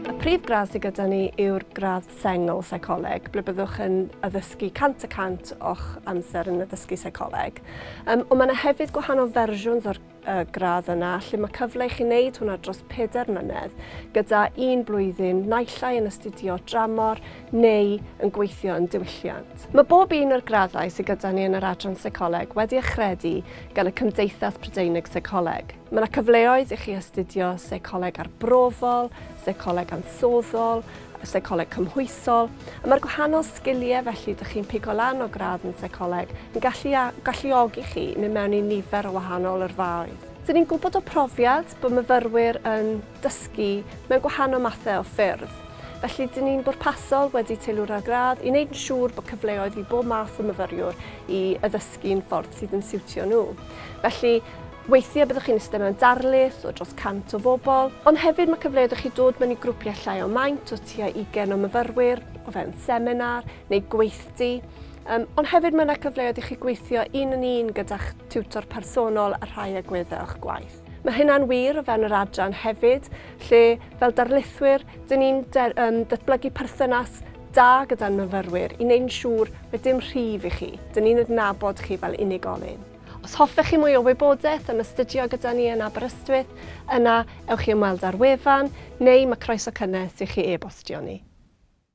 Y prif gradd sydd gyda ni yw'r gradd sengl seicoleg, ble byddwch yn addysgu 100 y 100 o'ch amser yn addysgu seicoleg. Um, ond mae yna hefyd gwahanol fersiwns o'r y gradd yna, lle mae cyfle i chi wneud hwnna dros peder mlynedd, gyda un blwyddyn naillai yn astudio dramor neu yn gweithio yn diwylliant. Mae bob un o'r graddau sydd gyda ni yn yr Adran Seicoleg wedi achredu gan y Cymdeithas Prydeinig Seicoleg. Mae yna cyfleoedd i chi astudio Seicoleg Arbrofol, Seicoleg Ansoddol, y seicoleg cymhwysol, a mae'r gwahanol sgiliau felly dych chi'n pigo lan o gradd yn seicoleg yn gallu galluogi chi i mynd mewn i nifer o wahanol yrfaoedd. Dyn ni'n gwybod o profiad bod myfyrwyr yn dysgu mewn gwahanol mathau o ffyrdd, felly dyn ni'n bwrpasol wedi teilwra'r gradd i wneud yn siŵr bod cyfleoedd i bob math o myfyriwr i addysgu'n ffordd sydd yn siwtio nhw. Felly, Weithiau byddwch chi'n eistedd mewn darlith o dros 100 o bobl, ond hefyd mae cyfleoedd i chi dod mewn i grwpiau llai o maint o tua 20 o myfyrwyr o fewn seminar neu gweithdy, um, ond hefyd mae yna cyfleoedd i chi gweithio un yn un gyda'ch tiwtor personol a rhai agweddau o'ch gwaith. Mae hynna'n wir o fewn yr adran hefyd, lle fel darlithwyr, dyn ni'n um, datblygu perthynas da gyda'n myfyrwyr i wneud yn siŵr mae dim rhif i chi, dyn ni'n adnabod chi fel unigolyn. Os hoffech chi mwy o wybodaeth am astudio gyda ni yn Aberystwyth, yna ewch i ymweld â'r wefan, neu mae croeso cynnes i chi e-bostio ni.